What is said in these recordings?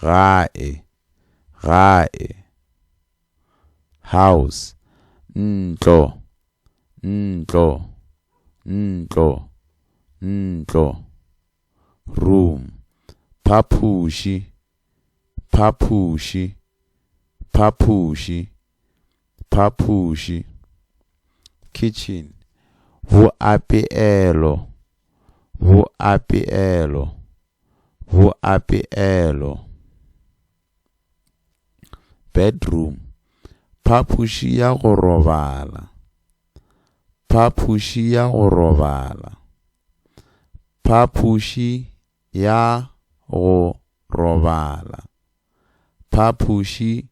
Gae, gae. House, ntlo, ntlo, ntlo, ntlo. Room, phapoši, phapoši, phapoši, phapoši. Kitchen, boapeelo, boapeelo, Boapeelo, bedroom, Phapoši ya go robala, Phapoši ya go robala, Phapoši ya go robala, Phapoši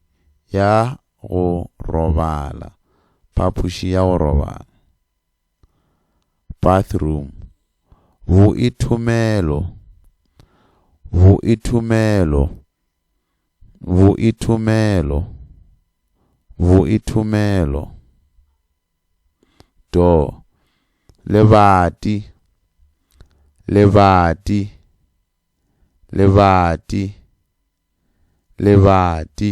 ya go robala, Phapoši ya go robala. bathroom boithomelo boithomelo boithomelo boithomelo door lebati lebati lebati lebati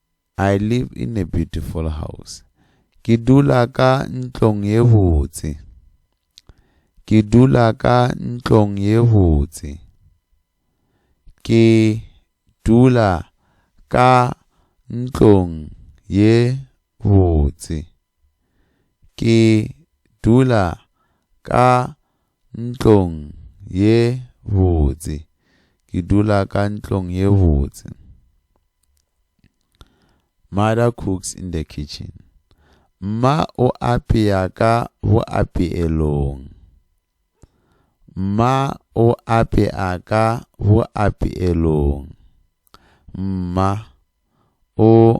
I live in a beautiful house. Ke dula ka ntlong ye botse. Ke dula ka ntlong ye botse. Ke dula ka ntlong ye botse. Ke dula ka ntlong ye botse. Ke dula ka ntlong ye botse. Mother cooks in the kitchen. Mma o apea ka boapeelong. Mma o apea ka boapeelong. Mma o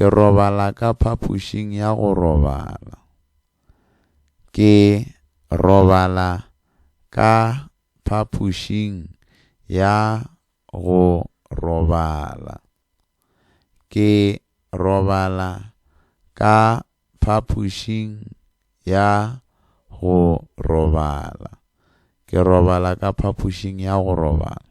Ke robala ka phapošing ya go robala. Ke robala ka phapošing ya go robala. Ke robala ka phapošing ya go robala. Ke robala ka phapošing ya go robala.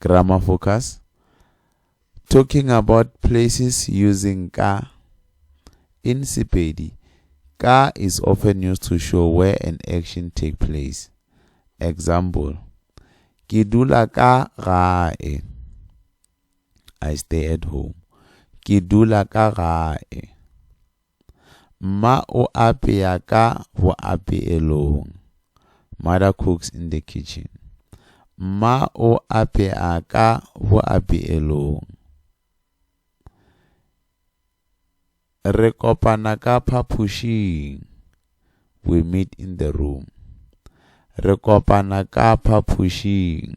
Grammar focus. Talking about places using ka. In Sepedi, ka is often used to show where an action take place. Example. Ke dula ka gae. I stay at home. Ke dula ka gae. Mma o apea ka boapeelong. Mother cooks in the kitchen. Mma o apea ka boapeelong. Re kopana ka phapošing. We meet in the room. Re kopana ka phapošing.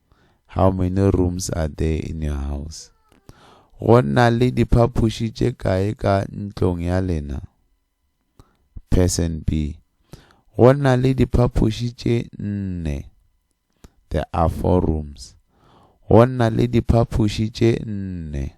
How many rooms are there in your house? Go na le diphaphuši tše kae ka ntlong ya lena? Person B. Go na le diphaphuši tše nne. There are four rooms. Go na le diphaphuši tše nne.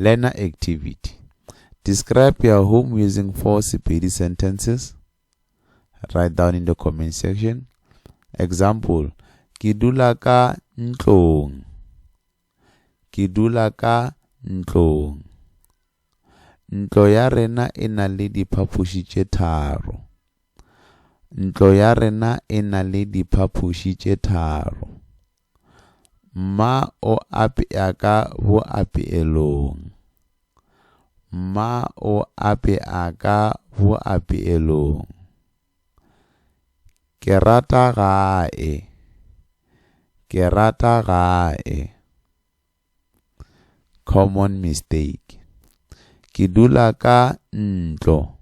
Learner Activity Describe your home using four Sepedi sentences. Write down in the comment section. Example, ke dula ka ntlong. Ke dula ka ntlong. Ntlo ya rena e na le diphapoši tše tharo. Ntlo ya rena e na le diphapoši tše tharo. Mma o apea ka boapeelong. Mma o apea ka boapeelong. Ke rata gae. Ke rata gae. Common mistake. Ke dula ka ntlo.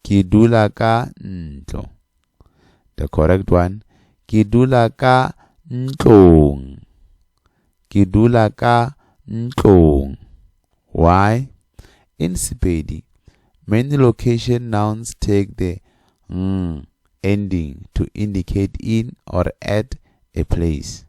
Ke dula ka ntlo. The correct one. Ke dula ka ntlong. Ke dula ka ntlong. Why? In Sepedi, many location nouns take the ng ending to indicate in or at a place.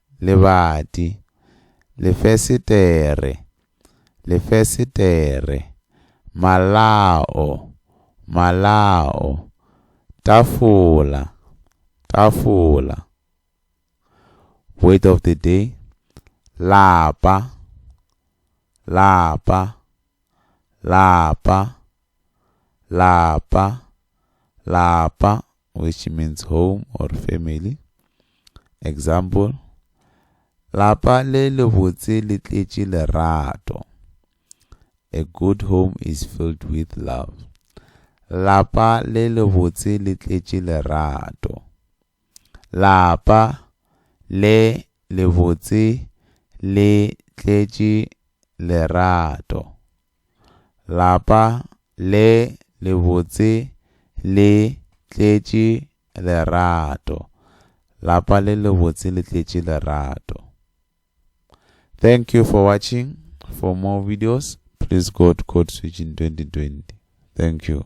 Lebati, lefesetere, lefesetere, malao, malao, tafola, tafola. Word of the day, lapa, lapa, lapa, lapa, lapa. which means home or family. Example, lapa le lebotse le tletše lerato. A good home is filled with love. Lapa le lebotse le tletše lerato. Lapa le lebotse le tletše lerato. Lapa le lebotse le tletše lerato. Lapa le lebotse le tletše lerato. Thank you for watching. For more videos, please go to Code Switching 2020. Thank you.